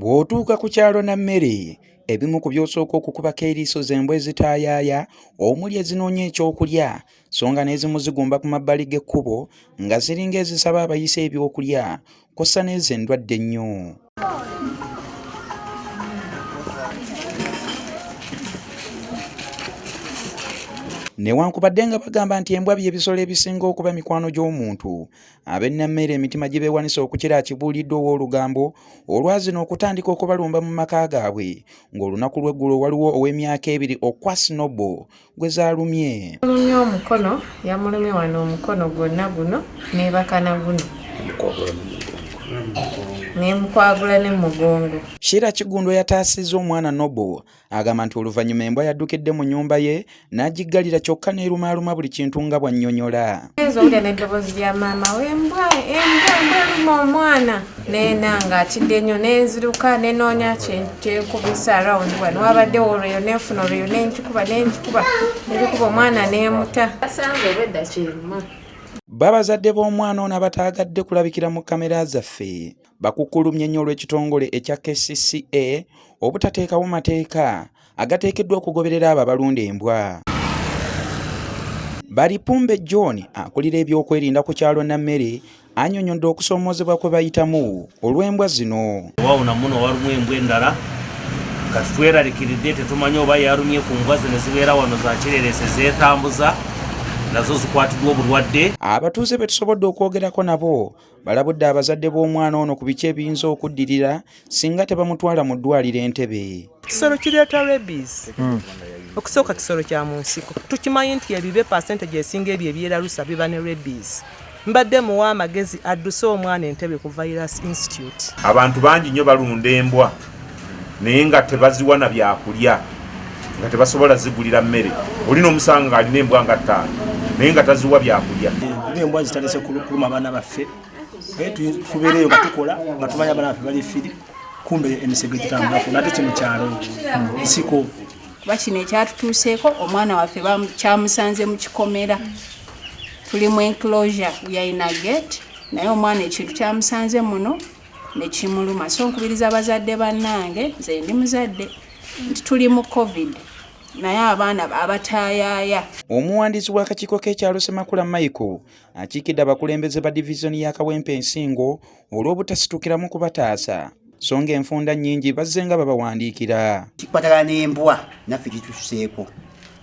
Bw'otuuka ku kyalo na mmere ebimu ku by'osooka okukubako eriiso z'embwa ezitaayaaya omuli ezinoonya ekyokulya so nga n'ezimu zigumba ku mabbali g'ekkubo nga ziringa ezisaba abayise ebyokulya kw'ossa n'ezo endwadde ennyo. newankubadde nga bagamba nti embwa by'ebisolo ebisinga okuba mikwano gy'omuntu Abennammeere emitima gye beewanise okukira akibuuliddwa ow'olugambo olwazino okutandika okubalumba mu maka gaabwe ng'olunaku lw'eggulo waliwo ow'emyaka ebiri okwa Snobo gwe zaalumye. Mulumye omukono yamulumye wano omukono gwonna guno neebaka na guno n'emukwagula ne mugongo. Sheila Kigundwa yataasizza omwana Nobo Agamba nti oluvannyuma embwa yaddukidde mu nnyumba ye n'agiggalira kyokka n'erumaaluma buli kintu nga bw'annyonnyola. Oyinza owulira n'eddoboozi lya maama we embwa embwa embwa eruma omwana neena ng'atidde nnyo n'enziruka nenoonya kyenkubisa arawundi wano wabadde olweyo nenfuna olweyo nenkikuba nenkikuba nenkikuba omwana neemuta asanze obwedda kyeruma. Babazadde b'omwana ono abataagadde kulabikira mu kkamera zaffe bakukulumye nnyo olw'ekitongole ekya kcca obutateekawo mateeka agateekeddwa okugoberera abo abalunda embwa balipumbe john akulira ebyokwerinda ku kyalo nammere anyonyodde okusoomoozebwa kwe bayitamu olw'embwa zino wawona muno walimu embwa endala kati tweralikiridde tetumanyi oba yarumye ku mbwa zino zibeera wano zakirereese zeetambuza nazo zikwatiddwa obulwadde abatuuze betusobodde okwogerako nabo balabudde abazadde b'omwana ono ku biki ebiyinza okuddirira singa tebamutwala mu ddwaliro entebe kisolo kireeta rebis hmm. okusooka kisolo kya mu nsiko tukimanyi nti ebibe pasente gyesinga ebyo ebyeralusa biba ne rebis mbadde muwa amagezi adduse omwana entebe ku virus institute abantu bangi nnyo balunda embwa naye nga tebaziwa na byakulya nga tebasobola zigulira mmere oli n'omusanga ng'alina embwa nga ttaano naye nga taziwa byakulya kuba embwa zitalese kuluma abaana baffe eh, tubeereyo nga tukola nga tumanya abaana baffe bali firi kumbe emisege gitambulako nate kino kyalo nsiko kuba kino ekyatutuuseeko omwana waffe kyamusanze mu kikomera tuli mu enclosure we are in a gate naye omwana ekintu kyamusanze muno nekimuluma so nkubiriza abazadde bannange nze ndi muzadde nti tuli mu covid naye abaana abatayaya omuwandiisi w'akakiiko k'ekyalo semakula michael akiikidde abakulembeze ba divizoni ya kawempe ensingo olw'obutasitukiramu kubataasa so nga enfunda nnyingi bazze nga babawandiikira kikwatagana n'embwa naffe gitususeeko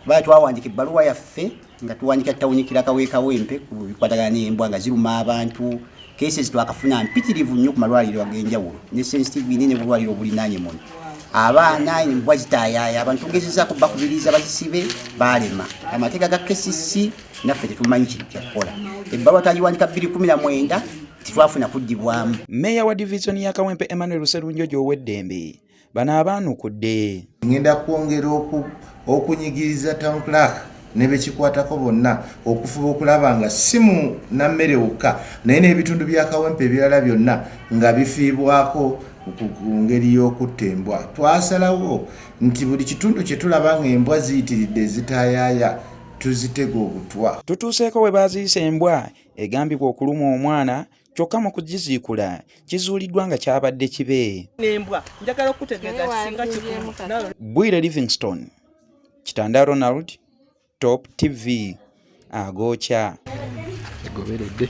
kuba twawandiika ebbaluwa yaffe nga tuwanika tawuni kiraka wekawempe ku bikwatagana n'embwa nga ziruma abantu cases twakafuna mpitirivu nnyo ku malwaliro ag'enjawulo ne sensitive ine ne bulwaliro obulinaanye muno abaana embwa zitaayaaya abantu tugezezaako bakubiriza bazisibe baalema amateeka ga kcc naffe tetumanyi kintu kyakukola ebbaluwa twagiwandika 219 titwafuna kuddibwamu meeya wa divizoni ya kawempe emmanuel sserunjojo ow'eddembe bano abaanukudde ngenda kwongera okunyigiriza town clark ne bekikwatako bonna okufuba okulaba nga si mu nammere wokka naye n'ebitundu bya kawempe ebirala byonna nga bifiibwako ku ngeri y'okutta embwa twasalawo nti buli kitundu kye tulaba ng'embwa ziyitiridde ezitaayaaya tuzitega obutwa tutuuseeko we baaziyisa embwa egambibwa okuluma omwana kyokka mu kugiziikula kizuuliddwa nga kyabadde kibe bwire livingston kitanda ronald top tv agookya egoberedde